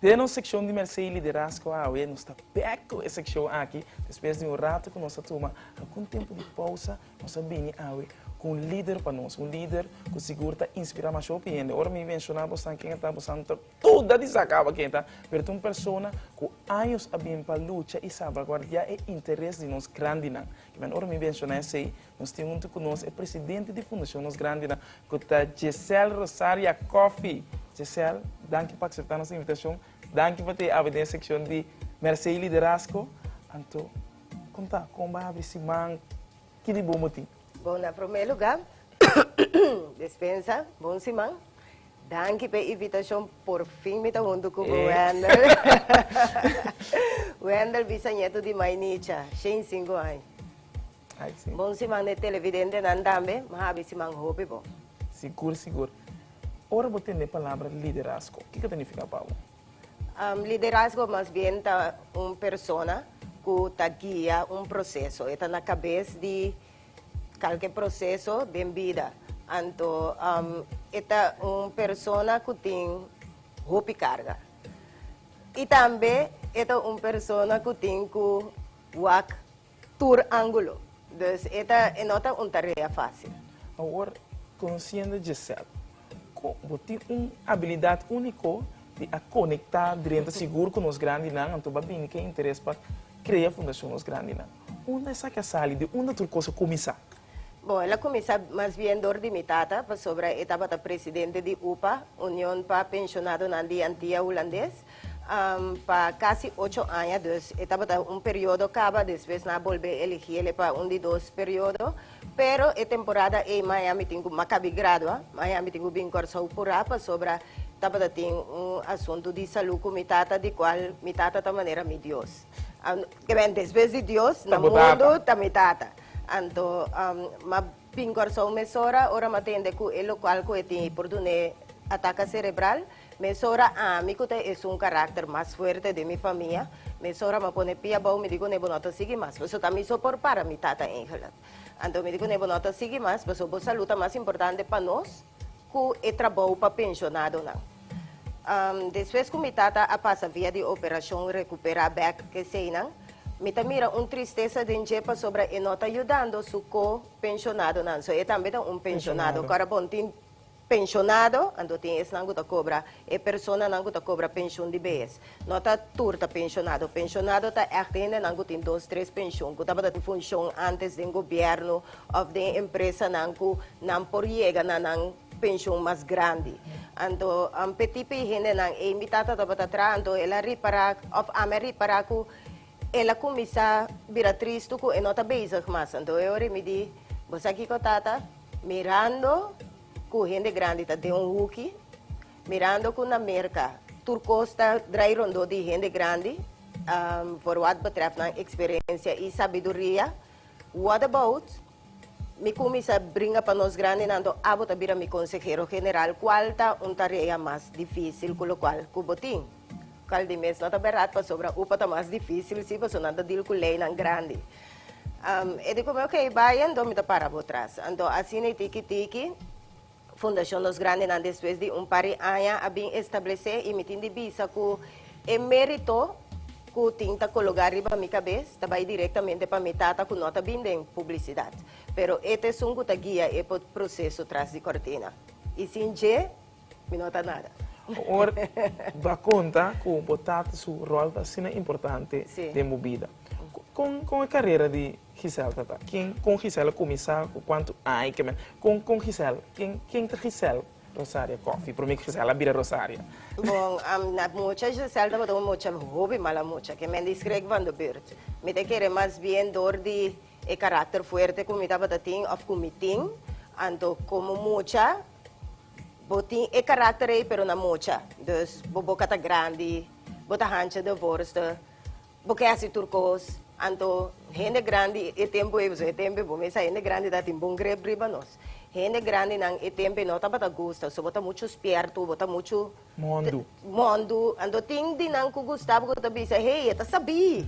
Den nos sekshon di Mèrsé i Liderazgo awe nos ta bèk ku e sekshon aki. Despues di un ratu ku nos a tuma algun tempu di pousa, nos a bini awe ku un lider pa nos, un lider ku sigur ta inspirá masho ku hende. Ora mi menshoná bosnan ken e ta, bosnan no ta duda di sa kaba ken e ta, pero ta un persona ku años a bin pa lucha i salvaguardiá e interes di nos grandinan. Men ora mi menshona esei, nos tin huntu ku nos e presidente di Fundashon Nos Grandinan, ku ta Jesel Rosaria Coffy. Jesel, danki pa akseptá nos invitashon. Danki pa t'e abri den sekshon di Mersei i Liderasko. Anto, konta, kon bo a abri siman? Ki di bon bo tin? Bon, na promé lugá, despensa, bon siman. Danki p'e invitashon, porfin mi ta huntu ku bo Wendel. Wendel bisañeto di Mai Nicha, shen sinku aña. Ai si. Bon si man e televidentenan tambe, mi habi si man hopi bo. Sigur sigur. Ora bo tende e palabra liderazgo, kiko ta nifiká pa bo? Liderazgo mas bien ta un persona ku ta guia un proseso, e ta na kabes di. Kalke proseso den bida, anto e ta un persona ku tin hopi karga. I tambe e ta un persona ku tin ku wak tur ángulo. Dus e ta e no ta un tarea fásil. Awor, konosiendo Gisèle, ku bo tin un abilidat úniko di a konektá drenta sigur ku nos grandinan, anto bo a bini ku e interes pa krea Fundashon Nos Grandinan. Unda esaki a sali? Di unda tur kos a kuminsá? Bon, el a kuminsá mas bien dor di mi tata, pasobra e tabata presidente di upa, Union pa Penshonadonan di Antia Hulandes, pa kasi ocho aña. Dus e tabata un periodo kaba, despues nan a bolbe eligi ele pa un di dos periodo. Pero e temporada ei maña mi tin ku makabi gradua, maña mi tin ku bin Kòrsou purá, pasobra tabata tin un asuntu di salú ku mi tata, di kual mi tata ta manera mi dios. Amen, despues di Dios na mundu ta mi Tata. Anto, m'a bin Kòrsou mesora ora m'a tende ku e lokal ku e tin ei por dun'é ataka serebral. Mesora ami ku ta esun karakter mas fuerte den mi famia, mesora m'a pone pia abou mi di kuné bo no ta sigui mas, paso ta mi so por para mi Tata Engelert. Anto mi di kuné bo no ta sigui mas paso bo salú ta mas importante pa nos. cu e trabou pa pensionadonan. Despues cu mi tata a pasa via di operacion recupera bek eseynan, mi ta mira un tristesa den dje pasobra e no ta yudando su co pensionadonan. So e tambe ta un pensionado. Ora bon tin pensionado, anto tin esnan cu ta cobra, e personanan cu ta cobra pension di bees. No ta tur ta penshonado. Penshonado ta ect hendenan cu tin dos, tres penshon, cu tabata tin funshon antes den gobierno of den empresanan cu nan por yega na nan penshon mas grandi. Anto amper tipo e hendenan ey, mi tata tabata traha, anto el a ripara of ami a ripara cu el a cuminsa bira tristo cu e no ta bezig mas. Anto e ora mi di, Bo sa kico tata? Mirando cu hende grandi ta den un huki, Mirando cu na Merca tur cos ta draai rondó di hende grandi for wad betref nan experiencia y sabiduria, what about mi cuminsa bringa pa nos grandinan to abo ta bira mi consehero general cual ta un tarea mas dificil cu locual cu bo tin? Cual di mes no ta berdad pasobra upa ta mas dificil si paso nan ta deal cu leynan grandi. E di cu mi ok bai anto mi ta para bo tras anto asina y tiki tiki Fundacion Los Grandenan despues di un par di aña a bin establece y mi tin di bisa cu e merito cu tin ta cologa riba mi cabes ta bay directamente pa mi tata cu no ta bin den publicidad. Pero e ta esun cu ta guia e proceso tras di cortina. Y sin dje mi no ta nada. Awor bo a conta cu bo tata su rol ta asina importante den bo bida. Con e carera di. Gisèl ta ta? Kin kon Gisèl a kuminsá? Ku kuantu aña i ke mes? Kon kon Gisèl? Kin kin ta Gisèl? Rosaria Kòfi, promé ku Gisèl a bira Rosaria. Bon, am na mucha Gisèl tabata un mucha hopi mala mucha ke men di skrek van de burt. Mi ta kere mas bien dor di e karakter fuerte ku mi tabata tin òf ku mi tin. Anto komo mucha bo tin e karakter ei pero na mucha. Dus bo boka ta grandi, bo ta hancha de vorste. Bo ke hasi tur kos, anto hende grandi e tempu ei, pasobra e tempu ei bo mester sa hende grandi ta tin bon grep riba nos. Hende grandinan e tempu ei no tabata gusta, so bo ta muchu spiertu, bo ta muchu, Mondu. mondu, anto tin di nan ku gustaba ku ta bisa, hey, e ta sabí,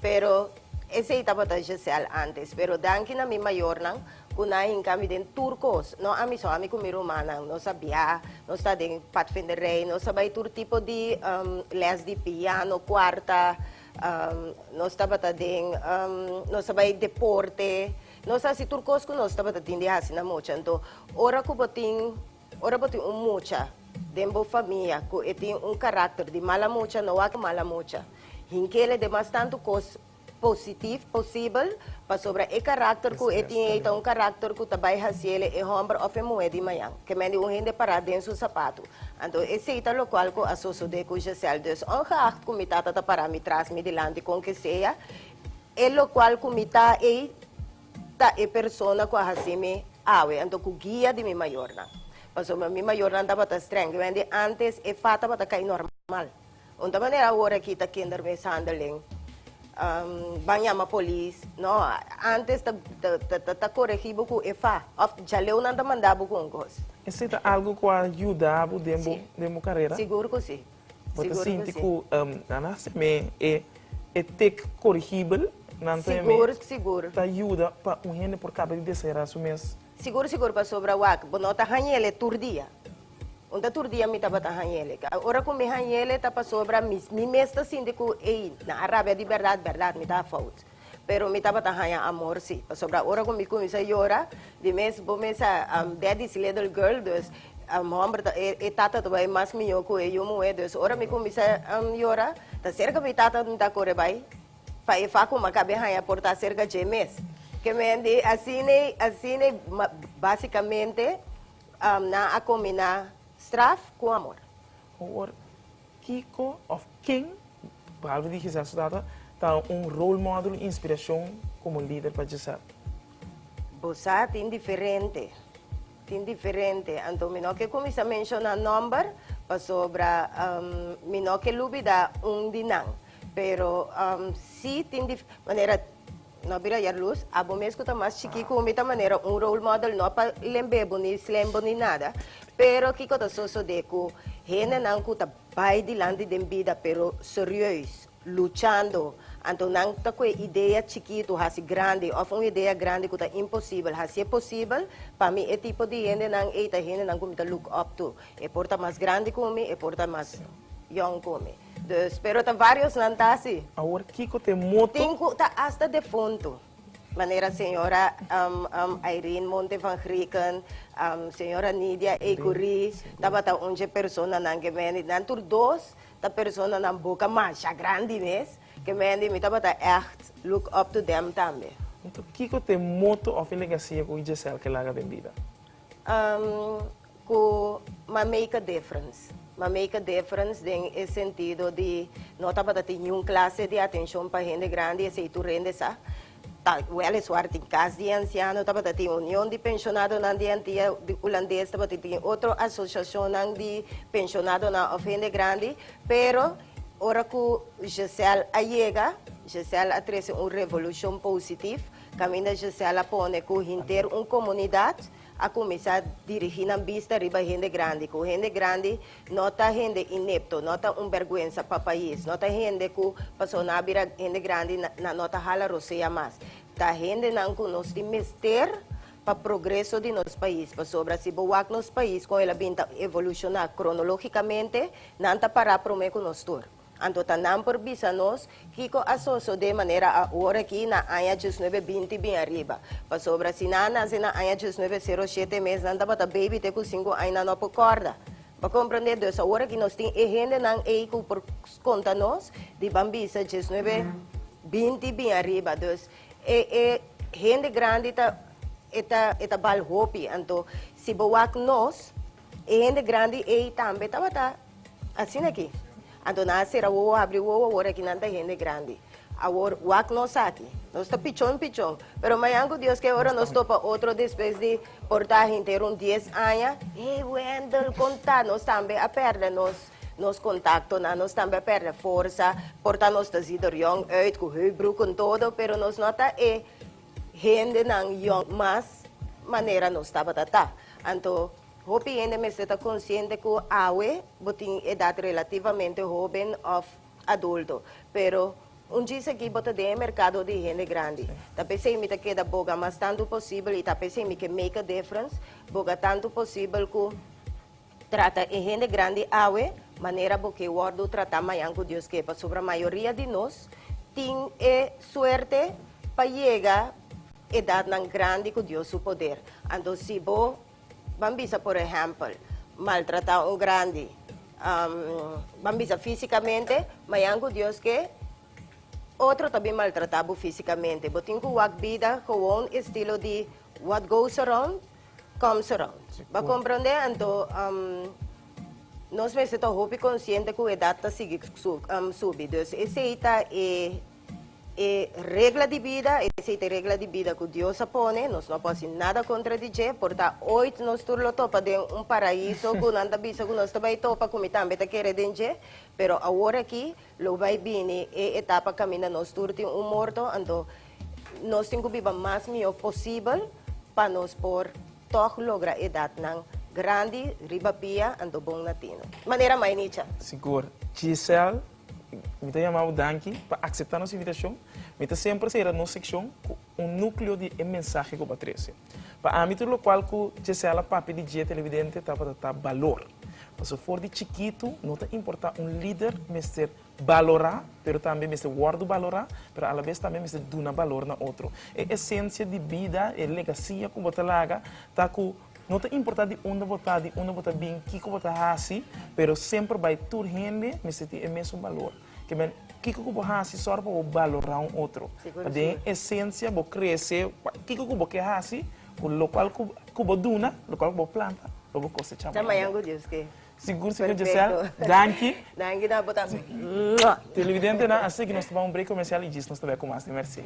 pero esei tabata Gisèle antes, pero danki na mi mayornan. Cu na hinca mi den tur cos. No ami so, ami cu mi rumannan. Nos a bia, nos ta den Pathfinderij, nos a bay tur tipo di les di piano, cuarta, nos tabata den, nos a bay deporte, nos a haci tur cos cu nos tabata tin di haci na mucha. Anto, ora cu bo tin, ora bo tin un mucha den bo famia cu e tin un caracter di mala mucha, no wak mala mucha. Hinkele den mas tantu cos positif posibel, pasobra e karakter ku e tin ei ta un karakter ku ta bai hasiéle e hòmber òf e muhé di mañan, kemendi un hende pará den su sapatu. Anto esei ta lokual ku a sosodé ku Gisèle. Dus, òngeacht ku mi tata ta pará mi tras, mi dilanti, kon ke sea, e lokual ku mi ta ei ta e persona ku a hasi mi awe, anto ku guia di mi mayornan. Pasobra mi mayornan tabata strèng, kemendi ántes e fat tabata kai normal. Un ta manera awor aki ta kinder mishandelen ban yama polis no antes ta coregi bo cu efa of djaleu nan ta manda bo cu un cos. Esey ta algo cu a yuda bo den bo carera? Sigur cu si. Bo ta sinti cu nan a hasi me e tic corigibel nan ta yuda pa un hende por caba di desairar su mes? Sigur sigur pasobra wak bo no ta hañele tur dia. Un ta tur dia mi tabata hañele. Ora ku mi hañele ta pasobra mi mi mes ta sinti ku ey nan a rabia di bèrdat bèrdat mi ta fout. Pero mi tabata haña amor si. Pasobra ora ku mi kuminsa yora di mes bo mes a a dèdi si lidel gèl dus hòmber ta e e tata ta bai mas mihó ku e yu muhé. Dus ora mi kuminsa yora ta serka mi tata mi ta kore bai. Pa e fa kuma kabe haña portá serka dje mes. Kemen di asina i asina i basikamente nan a kombiná straf ku amor. Hoor, kiko of ken, behalve di Gisèl su tata, ta un role model i inspirashon komo lider pa Gisèl? Bo sa tin diferente. Tin diferente, anto mi no ke kuminsá menshoná nòmber pasobra mi no ke lubidá un di nan. Pero sí tin dif, manera no bira ayer lus, abo mes ku ta mas chikí ku mi ta manera un role model no pa lemb'é bo ni slèm bo ni nada, pero kiko ta sosodé ku hendenan ku ta bai dilanti den bida pero serieus luchando, anto nan ta cu e idea chikitu haci grandi of un idea grandi cu ta imposibel haci'e posibel, pa mi e tipo di hendenan ey ta hendenan cu mi ta look up to, e por ta mas grandi cu mi, e por ta mas yong cu mi, dus pero ta variosnan ta aci. Awor kico ta e moto? Tin cu ta hasta defunto, manera señora Irene Monte van Grieken, señora Nidia Ecurie, tabata un dje personanan que many, nan tur dos Ta personanan boka masha grandi mes, ke mendi mi tabata ègt look up to them tambe. Enton kiko t'e moto òf e legasia ku Giselle ke laga den bida? Umm, ku m'a make a difference. M'a make a difference den e sentido di no tabata tin niun klase di atenshon pa hende grandi, esei tur hende sa. Ta huele suerte, Cas di Anciano tabata tin Union di Pensionadonan di Antia Hulandes, tabata tin otro asociacionnan di pensionadonan of hende grandi, pero ora cu Giselle a yega, Giselle a trece un revolucion positif, caminda Giselle a pone cu hinter un comunidad a cuminsa dirigi nan bista riba hende grandi, cu hende grandi No ta hende inepto, no ta un berguensa pa pais, no ta hende cu pasobra nan a bira hende grandi nan no ta hala rosea mas. Ta hendenan cu nos tin mester pa progreso di nos pais, pasobra si bo wak nos pais con el a bin ta evoluciona cronologicamente, nan ta para prome cu nos tur. Anto ta nan por bisa nos kico a sosode manera ahora aki na aña djusnuebe binti bin ariba? Pasobra si nan a nace na aña djusnuebe sero shete mes nan tabata baby te cu cinco aña nan no a por corda. Bo a comprende? Dus ahora aki nos tin e hendenan ey cu por conta nos di ban bisa djusnuebe binti bin ariba. Dus e e hende grandi ta e ta e ta bal hopi. Anto si bo wak nos e hende grandi ey tambe tabata. Asina ki, anto nan a sera wowo, habri wowo, awor aki nan ta hende grandi. Awor, wak nos aki, nos ta pichon pichon, pero mañan ku Dios ke ora nos topa otro despues di por ta henter un dies aña, hey Wendel, kon ta? Nos tambe a pèrdè nos, nos kontaktonan, nos tambe a pèrdè forsa, por ta nos ta zi der yong uit ku hui bruk en todo, pero nos no a ta e hendenan yong mas manera nos tabata ta. Anto, Hopi hende mester ta konsiente ku awe bo tin edat relativamente hóben òf adulto, pero un djis aki bo ta den e merkado di hende grandi. Ta p'esei mi ta keda boga mas tantu posibel i ta p'esei mi ke make a difference boga tantu posibel ku trata e hende grandi awe manera bo ke wòrdu tratá mañan ku Dios ke. Pasobra mayoria di nos tin e suerte pa yega edatnan grandi ku Dios su poder. Anto si bo Ban bisa por ehèmpel, maltratá un grandi. Ban bisa físikamente, ma e angu Dios ke otro ta bin maltratá bo físikamente. Bo tin ku wak bida gewoon estilo di what goes around, comes around. Bo a komprondé? Anto, nos mester ta hopi konsiente ku e edat ta sigui subi. Dus esei ta e. E regla di bida, esei ta e regla di bida ku Dios a pone, nos no por hasi nada kontra di dje, por ta oit nos tur lo topa den un paraíso ku nan ta bisa ku nos ta bai topa, ku mi tambe ta kere den dje, pero awor aki lo bai bini e etapa kaminda nos tur tin un morto, anto nos tin ku biba mas mihó posibel pa nos por tòg logra edatnan grandi riba pia, anto bon na tino. Manera mai Nicha? Sigur. Gisèle. Mi ta yama bo danki pa akseptá nos invitashon. Mi ta semper sera nos sekshon ku un núkleo di e mensahe ku bo a trese. Pa ami tur lokual ku Gisela papia di dje televidente tabata ta balor. Pasobra for di chikitu no ta importá un lider mester balorá pero tambe mester wòrdu balorá, pero alabes tambe mester duna balor na otro. E esensia di bida, e legasia ku bo ta laga ta ku No ta importa di unda bo ta, di unda bo ta bin, kiko bo ta hasi, pero semper bai tur hende mester tin e mesun balor. Ke men, kiko ku bo hasi sòru pa bo balorá un otro. Ta den e esensia bo krese, pa kiko ku bo ke hasi, ku lokual ku bo duna, lokual ku bo planta, lo bo kosechá mañana. Ta mañana ku Dios ke. Sigur sigur Giselle danki. Danki na bo tambe. Televidentenan a seki nos ta ban un break comercial y djis nos ta back cu mas di Mercee.